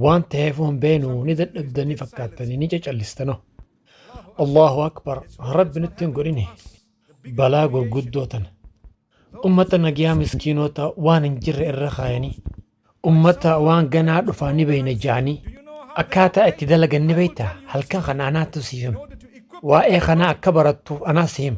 Waan ta'eef waan beenu ni dadhabdanii fakkaattanii ni cacallistano. Allahu Akbar Rabbi nutti hin godhini balaa gurguddoo tana. Ummata nagiyaa miskiinoota waan hin jirre irra kaayanii ummata waan ganaa dhufaa ni beeyna ja'anii akkaataa itti dalagan ni beeyta halkan kana anaatu siif hima. Waa'ee kanaa akka barattuuf anaa si hima.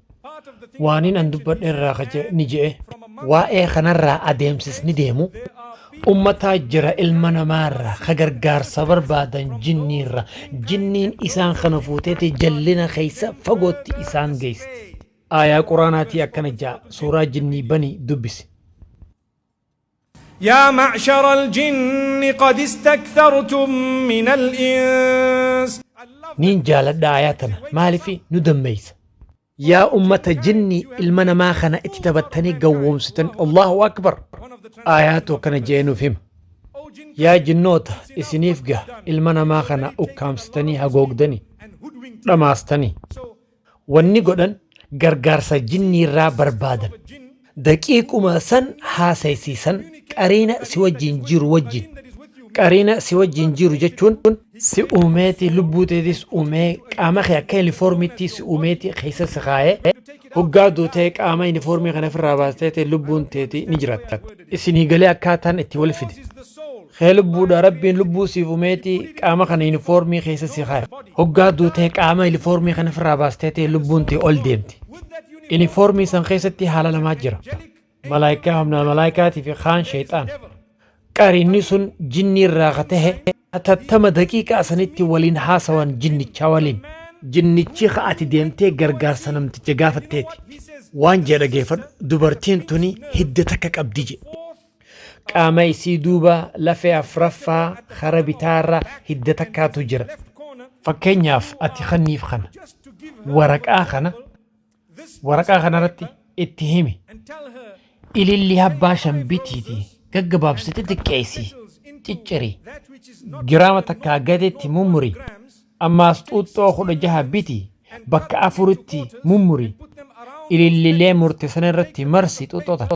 Waanin an dubbadhe irraa ka je'e ni je'e. Waa'ee kanarraa adeemsisni deemu ummataa jira ilma namaarraa ka gargaarsa barbaadan jinniirra. Jinniin isaan kana fuuteeti jallina keessa fagootti isaan geeysti. Aayaa Qur'aanaatii akkana je'a, Suuraa Jinnii Banii dubbisi. yaa macshara aljinni qad istaktartum min alins Niin jaaladha ayaa tana maalifi nu dammeysa. Yaa ummata jinnii ilma namaa kana itti taphattanii gawwoomsitan Allahu akbar. Aayaa too kana je'ee nuuf hima. Yaa jinnoota isiniif gaha ilma namaa kana ukkaamsitanii hagoogdanii dhamaastanii. Wanni godhan gargaarsa jinniirraa barbaadan. Daqiiquma san haasaysiisan qariina si wajjiin jiru wajjiin. Qariina si wajjiin jiru jechuun. Si uumeeti lubbuu teetis uumee qaama kee akka yunifoormiitti si uumeeti keessa si kaayee. Hoggaa duute qaama yunifoormii kana ifirraa baastee lubbuun teeti ni jiraatta. Isinii galee akkaataan itti wal fide. kee lubbuudha rabbiin lubbuu siif umeeti qaama kana yunifoormii keessa si kaaya hoggaa duutee qaama yunifoormii kana ofirraa baastee ta'e lubbuun tee ol deemti yunifoormii san keessatti haala lamaa jira malaayikaa humna malaayikaatii fi kaan sheexaan qariinni sun jinnii irraa ka tahe atattama daqiiqaa sanitti waliin haasawan jinnichaa waliin jinnichi ka ati deemtee gargaarsa namticha gaafatteeti waan jedha geeffadhu dubartiin tuni hidda takka qabdi jedhe Qaama isii duuba lafee afraffaa kara bitaarra hidda takkaatu jira. Fakkeenyaaf ati kanniif kana, waraqaa kana, waraqaa kanarratti itti himi. Ilillii habbaa shan bitiiti gaggabaabsite xiqqeessi, cicciri, giraama takkaa gaditti mummuri. Ammaas xuuxxoo kudha jaha biti bakka afuritti mummuri. Ilillilee murte sanarratti marsi xuuxxoo tana.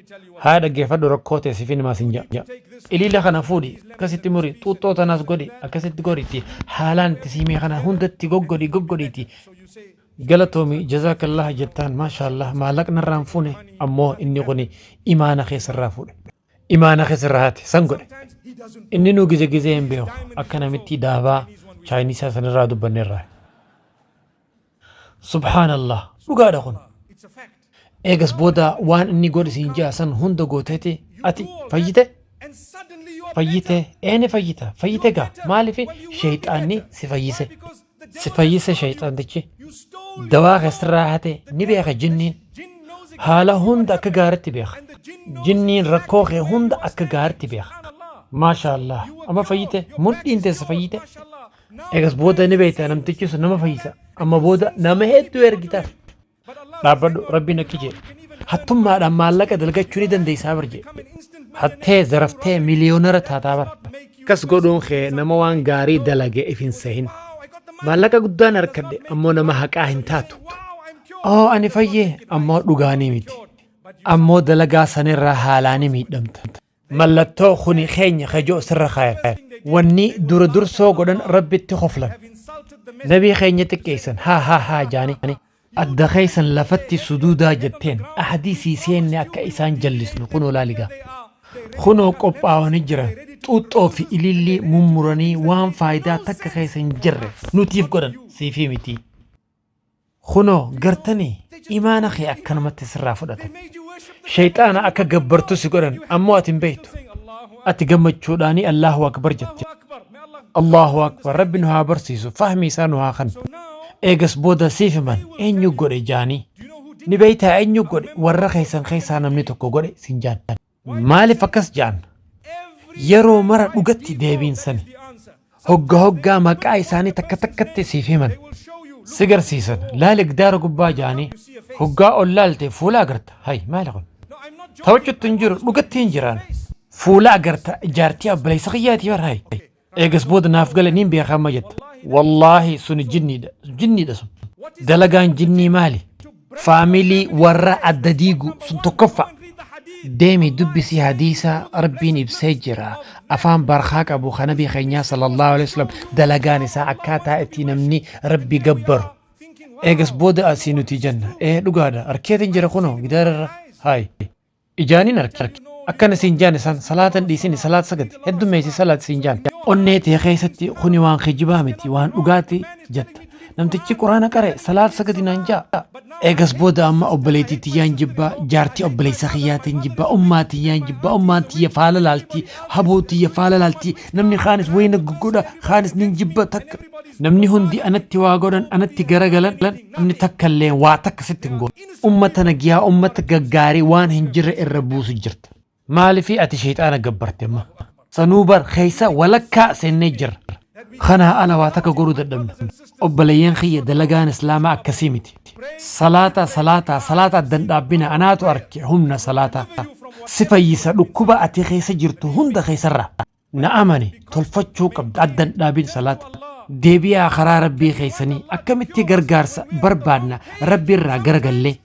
Haaya dhaggeeffadhu rakkoo tee sifin himaa sin ja'a. Iliila kana fuudhi akkasitti muri xuuxxoo tanaas godhi akkasitti godhi itti haalaan itti siimee kana hundatti goggodhi goggodhiiti. Galatoomi jazaakallah jettaan maashaallah maallaqna irraan fuune ammoo inni kuni imaana keessarraa fuudhe. Imaana keessarraa haate san godhe. Inni nu gize gizee hin beeku akka namitti daabaa chaayinisaa sanirraa dubbannerraa. Subhaanallah dhugaadha kun eegas booda waan inni godhi siin ja'a san hunda gooteeti ati fayyite fayyite eeni fayyita fayyite gaa maaliif sheeyxaanni si fayyise si fayyise sheeyxaantichi dawaa keessirraa hate ni beeka jinniin haala hunda akka gaaritti beeka jinniin rakkoo kee hunda akka gaaritti beeka maashaallah amma fayyite mudhiin teessa fayyite Egas booda ni beekta namtichi sun nama fayyisa. Amma booda nama hedduu ergitaaf. Dhaabbadhu rabbiin akki jee. Hattummaadhaan maallaqa dalgachuu ni dandeessaa bar jee. Hattee zaraftee miliyoonara taataa bar. Kas godhuun kee nama waan gaarii dalage if hin sehin. Maallaqa guddaan harkadhe ammoo nama haqaa hin taatu. Oo ani fayyee ammoo dhugaanii miti. Ammoo dalagaa sanirraa haalaanii miidhamta. Mallattoo kuni keenya kajoo sirra kaayan. Wanni dura dursoo godhan Rabbitti koflan. Nabii keenya xiqqeessan. Haa haa haa jaanii. Adda keessan lafatti suduudaa jetteen. Ahdii sii seenne akka isaan jallisnu kunoo laali gaa. Kunoo qophaawanii jiran. Xuuxxoo fi ilillii mummuranii waan faayidaa takka keessa hin jirre nutiif godhan. Siifii mitii. Kunoo, gartanii? Imaana kee akkanumatti sirraa fudhatan. Sheyxaana akka gabbartu si godhan, ammoo ati hin beeytu. Ati gammachuudhaanii Allaahu Akbar jette. Allaahu Akbar, Rabbi nu haa barsiisu, fahmii isaa nu haa kennu. Eegas booda siif himan, eenyu godhe? jaanii. Ni beeytaa eenyu godhe? Warra keessan keessaa namni tokko godhe siin jaan. Maalif akkas jaan? Yeroo mara dhugatti deebiin sani. Hogga hoggaa maqaa isaanii takka takkatti siif himan. Si garsiisan laali gdaara gubbaa jaanii hoggaa ol laalte fuula agarta. Hay maali kun? Taphachutti hin jiru dhugatti hin jiraan. Fuula agarta jaartii abbaleysa kiyyaati bar hay. Eegas booda naaf gale niin beekaa amma jetta. Wallaahi suni jinniidha. Jinniidha sun. Dalagaan jinnii maali? Faamilii warra adda diigu sun tokkoffa. Deemi dubbisi hadiisa rabbiin ibsee jira. Afaan barkaa qabu kan nabii keenyaa sallallahu alaihi wasallam dalagaan isaa akkaataa itti namni rabbi gabbaru. Eegas booda asii nuti jenna. Ee dhugaadha. Arkeetiin jira kunoo gidaararra. Haayi. Ijaan hin arkin. Akkana siin jaane san salaata hin dhiisini salaata sagadi heddummeeysi salaati siin jaane. Onnee tee keeysatti kuni waan kijibaa miti waan dhugaati jetta. Namtichi quraana qare salaata sagadi naan ja'a. Eegas booda amma obboleeytii tiyyaan jibba, jaartii obboleeysa kiyyaatiin jibba, ummaa tiyyaan jibba, ummaan tiyya faala laalti, haboo tiyya faala laalti, namni kaanis wayii na goggodha, kaanis nin jibba takka. Namni hundi anatti waa godhan, anatti garagalan, namni takkalleen waa takka sitti hin goone. Ummata nagyaa ummata gaggaarii waan hin jirre irra buusu jirta. Maalifi ati sheyxaana gabbarte amma? Sanuu bar keessa walakkaa seennee jirra. Kanaa ala waa takka godhuu dadhabne. Obboleeyyan kiyya dalagaan Islaamaa akkasii miti. Salaataa salaataa salaataa adda hin dhaabbinaa anaatu arke humna salaataa si fayyisa dhukkuba ati keessa jirtu hunda keessarraa. na amani tolfachuu qabda addan dhaabin salaata deebi'aa karaa rabbii keessanii akkamitti gargaarsa barbaadna rabbi irraa garagallee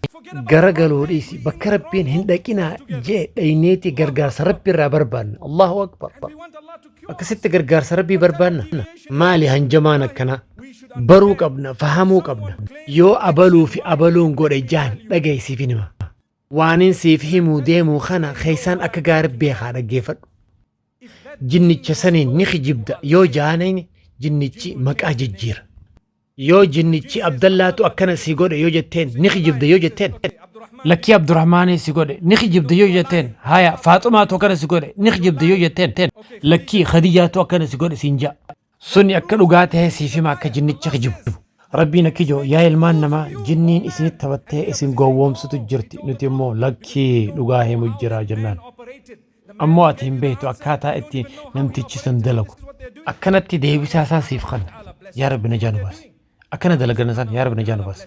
garagaluu dhiisi bakka rabbiin hin dhaqinaa jee dhayneeti gargaarsa rabbi irraa barbaadna allahu akbar akkasitti gargaarsa rabbii barbaadna maali hanjamaan akkanaa baruu qabna fahamuu qabna yoo abaluu fi abaluun godhe jaan dhagaysiifin hima Waanin siif himuu deemu kana keessaan akka gaariitti beekaa dhaggeeffadhu. Jinnicha saniin ni kijibda yoo jaaneen jinnichi maqaa jijjiira. Yoo jinnichi Abdallaatu akkana si godhe yoo jetteen ni kijibda yoo jetteen lakkii Abdurrahmaanii si godhe ni kijibda yoo jetteen haya Faaxumaatu akkana si godhe ni kijibda yoo jetteen lakkii Khadijaatu akkana si godhe siin ja'a. Suni akka dhugaa tahe siif hima akka jinnicha kijibdu. Rabbiin akkijoo yaa ilmaan namaa jinniin isinitti taphattee isin gowwoomsutu jirti nuti immoo lakkii dhugaa himu jira jennaan. Ammoo ati hin beektu akkaataa itti namtichi san dalagu. Akkanatti deebisaa isaa siif kanna. Yaa Rabbi najaa nu baasi. Akkana dalagana san yaa Rabbi najaa nu baasi.